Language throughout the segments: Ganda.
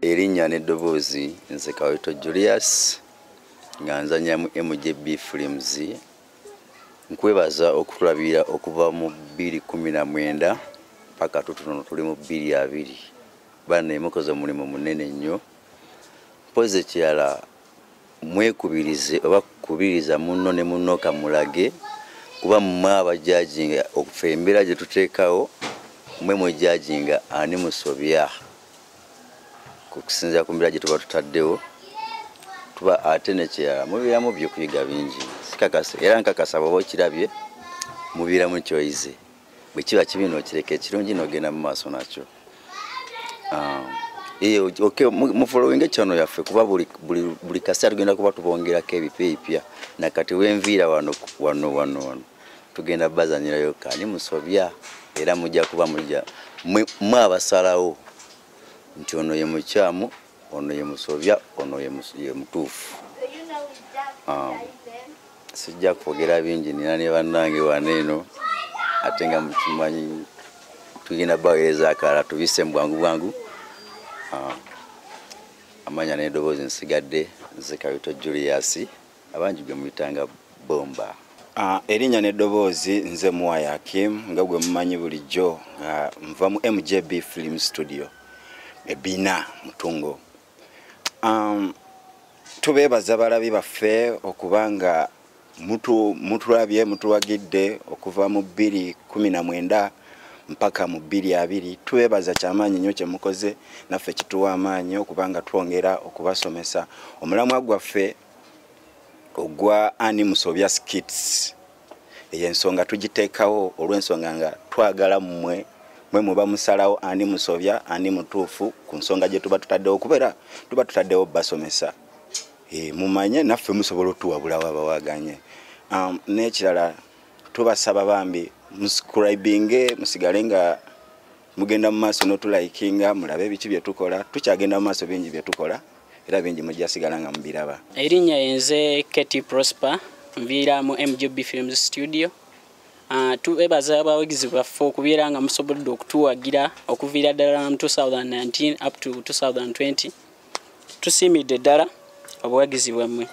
erinnya n'eddoboozi nze kawito julius nga nzanya mu mgb flims nkwebaza okutulabira okuva mu 219 paka tutunono tuli mu 22 bana emukoze omulimu munene nnyo mpozi ekirala mwekubirize oba kubiriza munno ne munno kamulage kuba mmwe abajajinga okufa embeera gye tuteekawo mwe mwejajinga ani musobya kusinzira ku mbeera gye tuba tutaddewo tuba ate nekirala mubeeramu byokuyiga bingi sikakasa era nkakasa bwaba okirabye mubeeramu kyoyize bwe kiba kibi nokireka ekirungi nogenda mu maaso nakyo um, mufolowinga ekyano yaffe kuba buli kaseera tugenda kuba tubongerako ebipya ebipya nakati wenviira wano wano wano wano tugenda bazanyirayo kani musobya era mujja kuba mujja mwe abasalawo nti ono ye mukyamu ono ye musobya ono ye mutuufu um, sijja kwogera bingi nina ne bannange wana eno ate nga mukimanyi tugenda baweereza akalala tubise mu bwangu bwangu um, amanya n'edoboozi nsigadde nze kawito julius abangi gwe muyitanga bomba ah, erinnya n'eddoboozi nze muwaya akim nga gwe mumanyi bulijjo nga nva mu mjb film studio ebina mutungo um, tubeebaza balabi baffe okuba nga mutulabye mutuwagidde okuva mu bbiri kumi na mwenda mpaka mu bbiri abiri tubeebaza kyamaanyi nnyo kyemukoze naffe kituwa amaanyi okubanga twongera okubasomesa omulamwa gwaffe ogwa ani musobya skits eyo ensonga tugiteekawo olw'ensonga nga twagala mmwe mwe muba musalawo ani musobya ani mutuufu ku nsonga gye tuba tutaddewo kubeera tuba tutaddewo basomesa e, mumanye naffe musobola otuwabula waba waganye um, n'ekirala tubasaba bambi muscribinge musigale nga mugenda mu maaso notulaikinga mulabe ebiki byetukola tukyagenda mu maaso bingi byetukola era bingi mujjasigala nga mubiraba erinnya yenze kt prosper nviira mu mgb films studio Ah, tubebaza abawagizi baffe okubeera nga musobodde okutuwagira okuviira ddala mu 2019 up to 2020 tusiimidde ddala obuwagizi bwammwe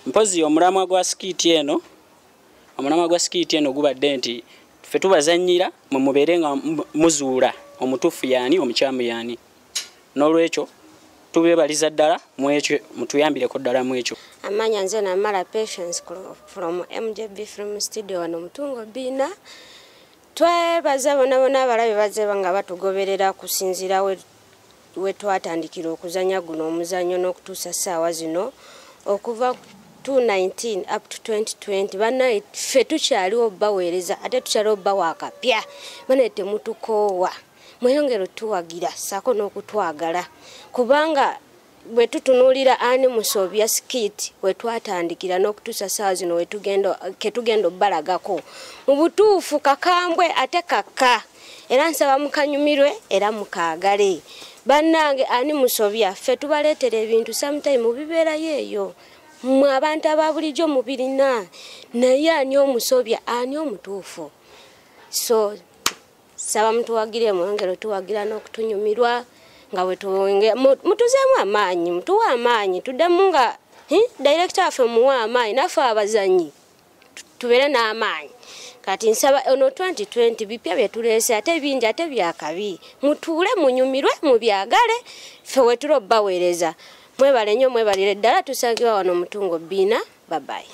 mpozi omulamwa gwa sikiiti eno omulamwa gwa sikiiti eno gubadde nti ffe tubazannyira mwe mubeere nga muzuula omutuufu yaani omukyamu yaani n'olwekyo tubebaliza ddala mwekyo mutuyambireko ddala mwekyo amanya nze namala patience from mjb film studio wano mutungo biina twebaza bonabona abalabe bazeba nga batugoberera kusinzirawe we twatandikira okuzanya guno omuzanyo n'okutuusa ssaawa zino okuva 2019 up to 2020 banaye ffe tukyaliwo baweereza ate tukyaliwo bawakapya banaye temutukoowa mweyongere otuwagira saako n'okutwagala kubanga bwe tutunuulira ani musobya sikiti we twatandikira n'okutuusa saawa zino ketugenda obalagako mu butuufu kakambwe ate kakka era nsaba mukanyumirwe era mukaagale bannange ani musobya ffe tubaleetera ebintu sometime mubibeerayo eyo mwe abantu aba bulijjo mubirina naye ani omusobya ani omutuufu so saba mutuwagire mwongere otuwagira n'okutunyumirwa nga bwetuwonge mutuzeemu amaanyi mutuwe amaanyi tuddemu nga hm, direkita waffe muwe amaanyi naffe abazanyi tubere n'amaanyi kati nsaba ono 2020 bipya byetuleese ate bingi ate byakabi mutuule munyumirwe mubyagale ffe wetula obbaweereza mwebale nnyo mwebalire ddala tusangibwa wano mutungo bbiina babayi